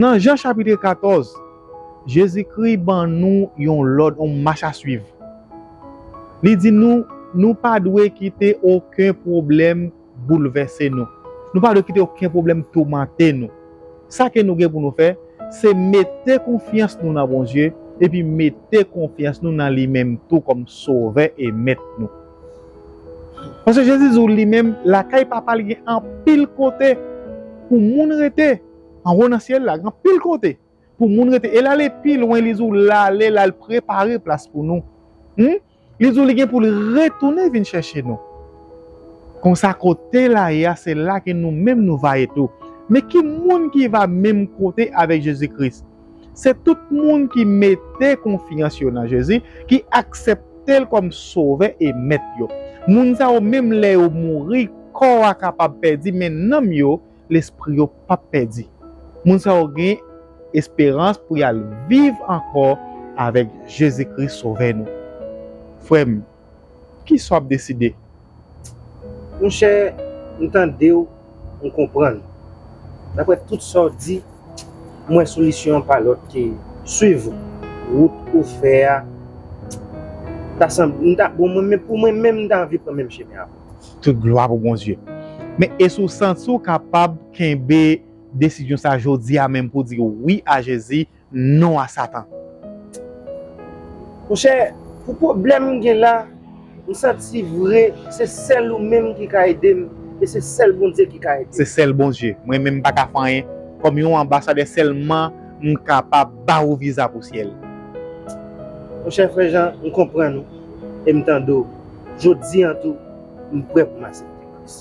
Nan Jan chapitre 14, Jezikri ban nou yon lòd, yon mach a swiv. Li di nou, nou pa dwe kite oken pwoblèm boulvèse nou. Nou pa dwe kite oken pwoblèm toumante nou. Sa ke nou gen pou nou fè, se mete konfyans nou nan Bondye, epi mete konfyans nou nan li menm tou kòm Sovè e Mèt nou. Paske Jezi di ou li menm, lakay Papa li gen anpil kote pou moun rete. Anwo nan syèl la gen anpil kote pou moun rete. E l ale pi lwen, li di w l ale, l al prepare plas pou nou. Li di w li gen pou l retounen vin chèche nou. Konsa, kote l ale a, se la ke nou menm nou va ye tou. Men ki moun ki va menm kote avèk Jezi Kris? Se tout moun ki mete konfyans yo nan Jezi, ki aksepte l kòm Sovè e Mèt yo. Moun sa yo, menm lè yo mouri, kò a kapab pèdi, men nanm yo lespri yo p ap pèdi. Moun sa yo gen esperans pou y al viv ankò avèk Jezi Kris Sovè nou. Frè m, ki sa w ap deside? Monchè, m tande w, m konprann. Daprè tout sa w di, m wè solisyon an pa lòt ke suiv ou. Wout ou fè a ta sanble, m ta, bon mwen menm, pou mwen menm m ta anvi pran menm chemen avè w. Tout glwa pou Bondye. Men esi w santi w kapab kenbe desizyon sa jodi a menm pou w di wi a Jezi, non a satan? Monchè, pou pwoblèm m gen la, m santi vre se sèl ou menm ki ka ede m e se sèl Bondye ki ka ede m. Se sèl Bondye. Mwen menm m pa ka fè anyen. Kòm yon anbasadè sèlman m kapab ba ou viza pou syèl. Monchè frè Jan, m konprann ou. e m tande w, jodi an tou, m prè pou m asepte Kris.